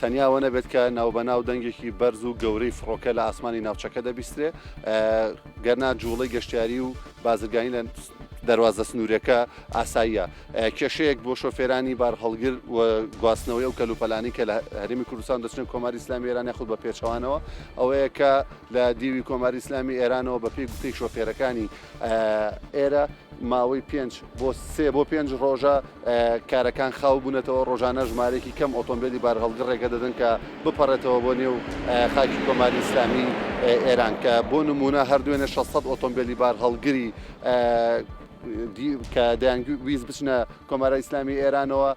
تەنیا ئەوە نەبێت کە ناوبەناو دەنگێکی بەرز و گەورەی فڕۆکە لە ئاسمانی ناوچەکە دەبیسترێ گەرنا جوڵەی گەشتیاری و بازرگانی لە دەواازە سنوورەکە ئاساییە کێشەیەک بۆ شۆفێرانی بار هەڵگر و گواستنەوەی و کەلوپەلانی کە لە هەرمی کوردستان دەچنێن کۆماری ئسلامی ئێران یاخود بە پێچوانەوە ئەوەیە کە لە دیوی کۆماری ئسلامی ئێرانەوە بەپی گوتەی شۆفێرەکانی ئێرە ماوەی پێنج بۆ سێ بۆ پێنج ڕۆژە کارەکان خاو بوونەتەوە ڕۆژانە ژمارێکی کەم ئۆتۆمبیلی بارهەڵگر ڕێگە دەدەن کە بپەڕێتەوە بۆ نێو خاکی کۆماری ئیسلامی ئێران کە بۆ نمونە هەردوێنە 600 ئۆتۆمبیلی بارهەڵگری کە دەیانویست بچنە کۆمارای ئیسلامی ئێرانەوە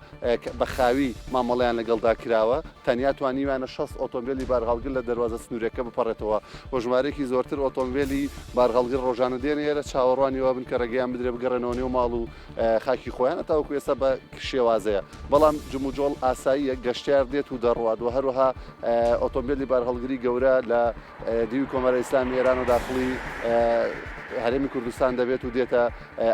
بە خاوی مامەڵەیان لەگەڵدا کراوە تەنیا توانیویانە 6 ئۆتۆمبیلی بارهەڵگر لە دەواازە سنوورەکە بپەڕێتەوە و ژمارێکی زۆرتر ئۆتۆمبیلی بارهەڵگر ڕۆژانە دێنە ئێرە چاوەڕوانیەوە بن کە ڕێگەیان بدرێ بگەڕێنەوە نێو ماڵ و خاکی خۆیان تاوەکو ئێستا بە شێوازەیە بەڵام جموجۆڵ ئاساییە گەشتار دێت و دەڕوات و هەروەها ئۆتۆمبیلی بارهەڵگری گەورە لە دیوی کۆماری ئیسلامی ئێران و داخڵی هەرێمی کوردستان دەبێت و دێتە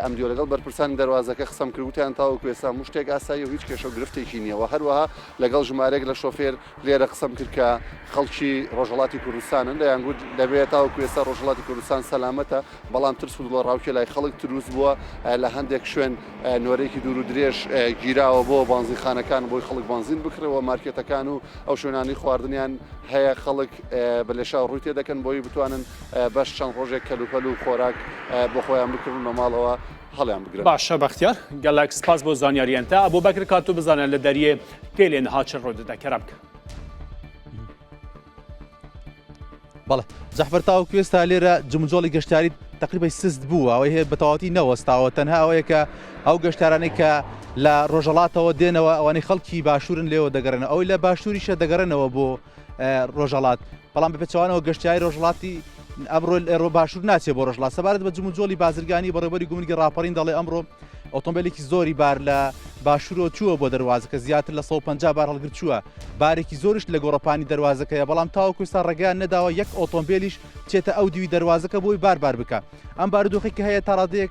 ئەم دیوە لەگەڵ بەرپرسانی دەواازەکە قسەم کردوتیان تاوەکو ئێستا مشتێک ئاسایی و هیچ کێشە و گرفتێکی نییەوە هەروەها لەگەڵ ژمارێک لە شۆفێر لێرە قسەم کرد کە خەڵکی ڕۆژهڵاتی کوردستانن دەیان گوت دەبێت تاوەکو ئێستا ڕۆژهڵاتی کوردستان سەلامەتە بەڵام ترس و دڵە ڕاوکێ لای خەڵک تروست بووە لە هەندێک شوێن نۆرێکی دوور و درێژ گیراوە بۆ بانزیخانەکان بۆی خەڵک بانزین بکرەوە مارکێتەکان و ئەو شوێنانی خواردنیان هەیە خەڵک ڕۆژێک بە لێشاو ڕووی تێدەکەن بۆی بتوانن بەش چەند ڕۆژێک کەلوپەل و خۆراک بۆ خۆیان بکردن بە ماڵەوە هەڵیان بگرن باشە بەختیار گەلەک سپاس بۆ زانیاریان تا بۆ بەکر کاتو بزانە لە دەریێ پێ لێن هاچ ڕۆدەدا کەرە بکە بەڵێ جەحفەر تاوکو ئێستا لێرە جمجۆڵی گەشتاری تقریبی سست بوو ئەوەی هەیە بەتەواتی نەوەستاوە تەنها ئەوەیە کە ئەو گەشتارانەی کە لە ڕۆژەڵاتەوە دێنەوە ئەوانەی خەڵکی باشوورن لێوە دەگەڕێنەوە ئەوی لە باشووریشە دەگەڕێنەوە بۆ ڕۆژەڵات بەڵام بەپێچوانەوە گەشتیاری ڕۆژڵاتی ئەمڕۆ ئێرۆ باشوور ناچێت بۆ ڕژڵات سەبارەت بە جموجۆلی بازرگانی بەڕێبەری گومرگی ڕاپەڕین دەڵێ ئەمڕۆ ئۆتۆمبیلێکی زۆری بار لە باشوورۆ چووە بۆ دەواازەکە زیاتر لە 150 بار هەڵگر چووە بارێکی زۆرش لە گۆڕپانی دەواازەکەیە بەڵام تاوەکوستا ڕێگەیان نەداوە یەک ئۆتۆمبیلیش چێتە ئەو دیوی دەواازەکە بۆی باربار بکە ئەم بارودۆخی کە هەیە تاڕادێک